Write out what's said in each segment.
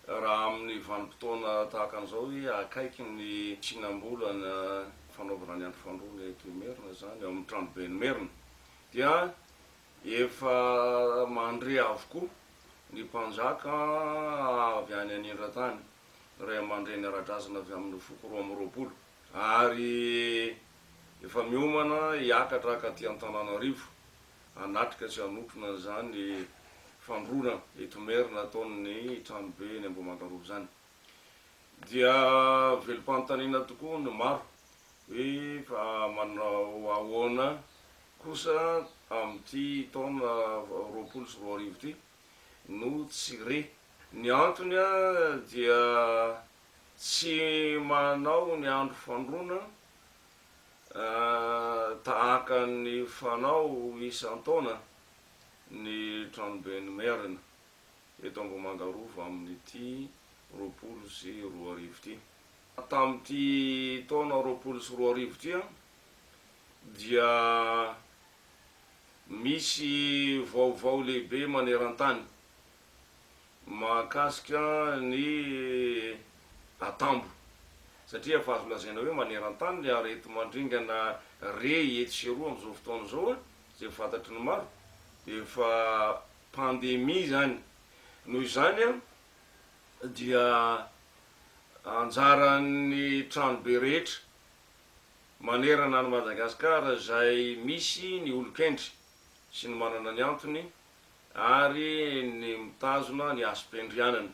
Raha amin'ny vanim-potoana tahaka an'izao hoe akaiky ny tsinam-bolana fanaovana ny andro fandroana eto Imerina izany, ao amin'ny Tranoben'i Merina, dia efa mandre avokoa ny mpanjaka avy any anindran-tany, ray aman-dreny ara-drazana avy amin'ny foko roa amby roapolo, ary efa miomana hiakatra ka aty Antananarivo. hanatrika sy hanotrona an'izany fandroana eto Merina ataon'ny tranobe eny Ambohimangarova izany dia velom-panontaniana tokoa ny maro hoe fa manao ahoana kosa amin'ity taona roapolo sy roa arivo ity no tsy re. Ny antony dia tsy manao ny andro fandroana Tahaka ny fanao isan-taona ny Tranoben'ny Merina eto Ambohimandarova amin'ity roapolo sy roa arivo ity. Tamin'ity taona roapolo sy roa arivo ity dia misy vaovao lehibe maneran-tany mahakasika ny atambo satria efa azo lazaina hoe maneran-tany ny areti-mandringana re etsy sy eroa amin'izao fotoana izao a, izay fantatry ny maro dia efa pandemie izany. Noho izany a, dia anjaran'ny tranobe rehetra manerana an'i Madagasikara izay misy ny olon-kendry sy ny manana ny antony, ary ny mitazona ny hasim-piandrianany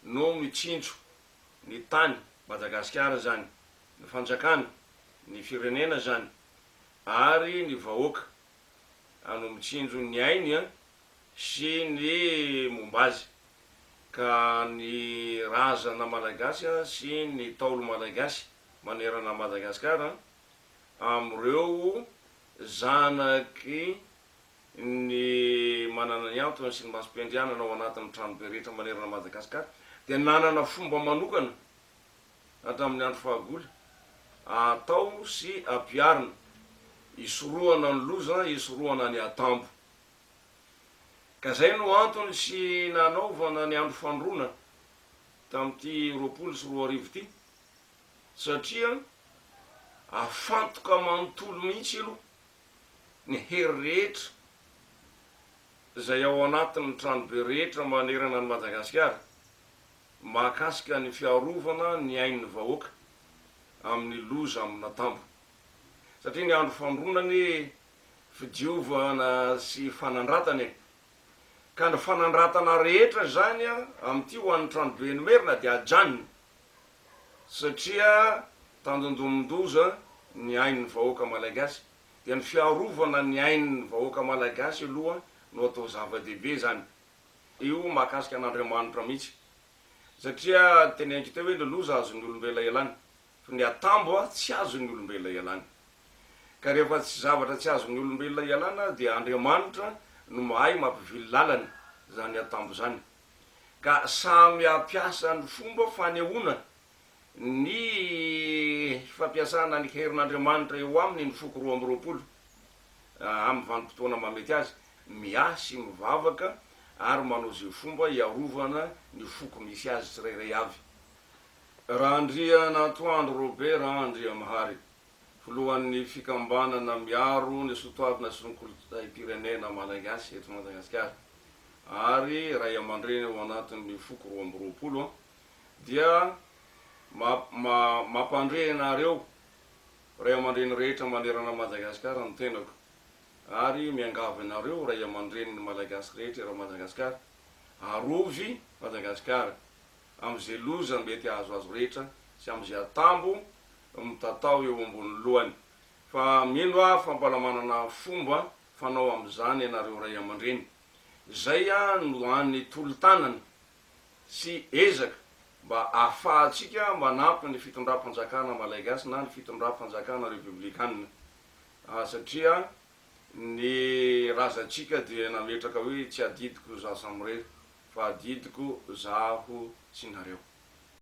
no mitsinjo ny tany, Madagasikara izany, ny fanjakana, ny firenena izany ary ny vahoaka no mitsinjo ny ainy sy ny momba azy ka ny razana malagasy sy ny ntaolo malagasy manerana an'i Madagasikara amin'ireo zanaky ny manana ny antony sy ny masom-piandrianana ao anatin'ny tranobe rehetra manerana an'i Madagasikara dia nanana fomba manokana hatramin'ny andro fahagola atao sy ampiharina hisorohana ny loza hisorohana ny hatambo ka izay no antony sy nanaovana ny andro fandroana tamin'ity roapolo sy roa arivo ity satria afantoka manontolo mihitsy aloha ny hery rehetra izay ao anatin'ny tranobe rehetra manerana an'i Madagasikara mahakasika ny fiarovana ny ain'ny vahoaka amin'ny loza amina tambo satria ny andro famoronana anie fidiovana sy fanandratana e! ka ny fanandratana rehetra izany amin'ity ho an'ny tranobe Enimerina dia ajanony satria tandindomin-doza ny ain'ny vahoaka Malagasy dia ny fiarovana ny ain'ny vahoaka Malagasy aloha no atao zava-dehibe zany io mahakasika an'Andriamanitra mihitsy satria teneniko teo hoe ny loza azon'ny olombela ialany fa ny atambo tsy azon'ny olombela ialany ka rehefa tsy zavatra tsy azon'ny olombelona ialana dia Andriamanitra no mahay mampivily lalana zany atambo zany ka samy hampiasa ny fomba fanehoana ny fampiasana ny herin'Andriamanitra eo aminy ny foko roa amby roapolo, amin'ny vanim-potoana mahamety azy, miahy sy mivavaka ary manao izay fomba hiarovana ny foko misy azy tsirairay avy. Randrianantoandro Robert Andriamahary. filohan'ny fikambanana miaro ny sotoavina sy ny kolontsaim-pirenena Malagasy eto Madagasikara ary ray aman-dreny ao anatin'ny foko roa amby roapolo dia mampandre ianareo ray aman-dreny rehetra manerana Madagasikara ny tenako ary miangavy anareo ray aman-drenin'ny Malagasy rehetra eran Madagasikara arovy Madagasikara amin'izay loza mety hahazo azy rehetra sy amin'izay atambo mitatao eo ambony lohany. Fa mino aho fa mbola manana fomba fanao amin'izany ianareo ray aman-dreny. Izay no hany tolo-tanana sy ezaka mba ahafahantsika manampy ny fitondram-panjakana Malaigasy na ny fitondram-panjakana Repoblikanina, satria Ny razantsika dia nametraka hoe tsy adidiko za samirery fa adidiko zaho sy nareo.